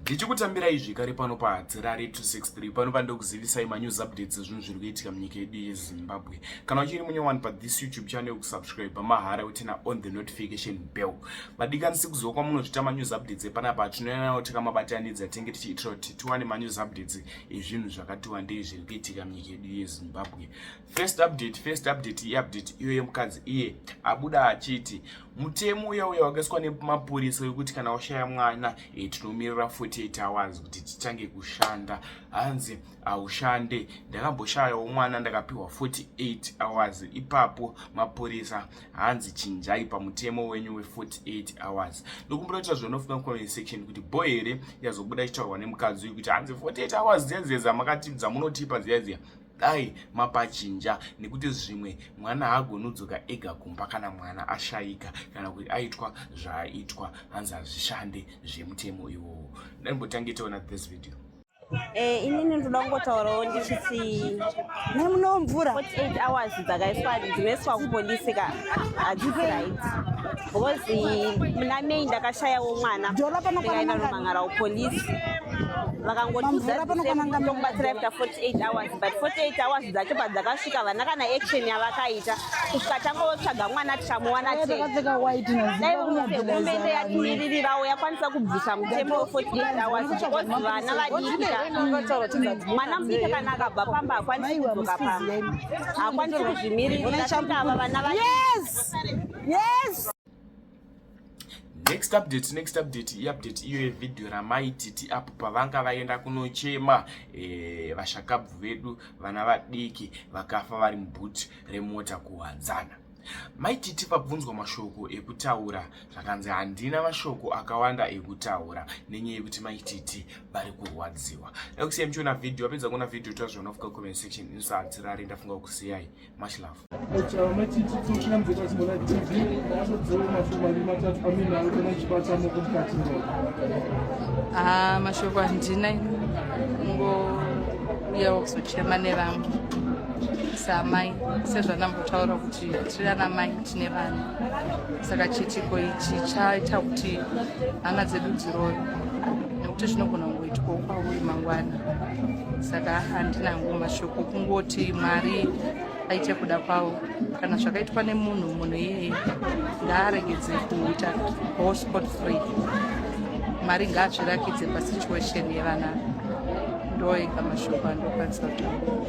ndichikutambirai zvekare pano pahadzirare 263 pano pandikuzivisai manews updates ezvinhu zviri kuitika munyika yedu yezimbabwe kana uchiri munye wani pathis youtube channel kusubscribe mahara utina on the notification bell vadikanisi kuziva kwamunozvita manews updates epanapa atinoyanawo takamabatanidza tenge tichiitira kuti tiwane manews updates ezvinhu zvakatiwandei zviri kuitika munyika yedu yezimbabwe First update, first update, i update iyo yemukadzi iye abuda achiti mutemo uya uya wakaiswa nemapurisa wekuti kana washaya mwana e, tinomirira 48 hours kuti tichange kushanda hanzi haushande ndakamboshayawo mwana ndakapiwa 48 hours ipapo mapurisa hanzi chinjai pamutemo wenyu we48 hours ndokumbira kuti zvinofunga comment section kuti bo here yazobuda ichitaurwa nemukadzi uyu kuti hanzi 48 hours dziya dziya dzamakati dzamunotipa dziya dziya dai mapachinja nekuti zvimwe mwana haagonodzoka ega kumba kana mwana ashayika kana kuti aitwa zvaaitwa hanzi hazvishande zvemutemo iwowo ndaimbotange taona this video Eh, ini ndinoda kungotaurawo ndichiti nemuno mvura 48 hours dzakaiswa dzinoiswa kupolisi ka hadzisi right Because muna May ndakashayawo mwana ndikaenda Rumangarau police vakangotiudza tokubatsira after 48 hours but 48 hours dzacho padzakasvika vana kana action yavakaita kusvika tangotsvaga mwana tichamuwana chehurumende yatimiririrawo yakwanisa kubvisa mutemo we48 hours because vana vadikika mwana mudiki kana akabva pamba hakwanisi kudzoka pamba hakwanisi kuzvimiririra ava vana va yes next update next update iupdate iyo yevideo ramaititi apo pavanga vaenda kunochema e, vashakabvu vedu vana vadiki vakafa vari mubhuti remota kuhwadzana maititi vabvunzwa mashoko ekutaura zvakanzi handina mashoko akawanda ekutaura nenyaya yekuti maititi vari kurwadziwa dakusiya muchiona vhidhiyo vapedza kuona vhidhiyo tazviona fuka comment section insati rari ndafunga kusiyai much love ah, mashoko handina ngouyawo kuzochema nevamwe saamai sezvanambotaura kuti tiri ana mai tine vana saka chiitiko ichi chaita kuti hana dzedu dziroyo nekuti zvinogona Itwawo kwavo mangwana saka handina ngo mashoko kungoti mwari aite kuda kwavo kana zvakaitwa nemunhu munhu iyeye ngaaregedze kuita all sport free mwari ngaazvirakidze pasituation yevana ndoega mashoko andokwanisa kutaura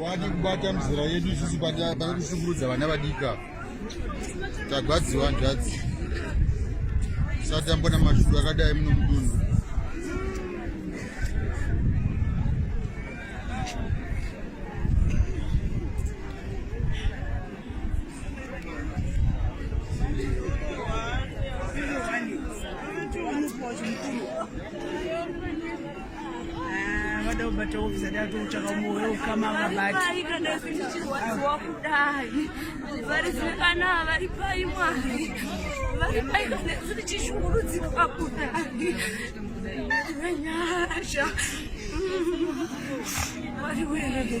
wadi kubata mizera yedu isusu patakushungurudza vana vadika tagwadziwa hanzvadzi sati ambona mashuru akadai muno mudunhu vada kubata ofisa datu kutsvaka moyo ukama vabatwakudayi vari zvikana vari pai mwari vari pai kana ziri chishungurudzikwa kudayi nyasha mwari wee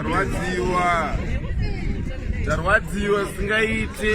tarwadziwa tarwadziwa singaite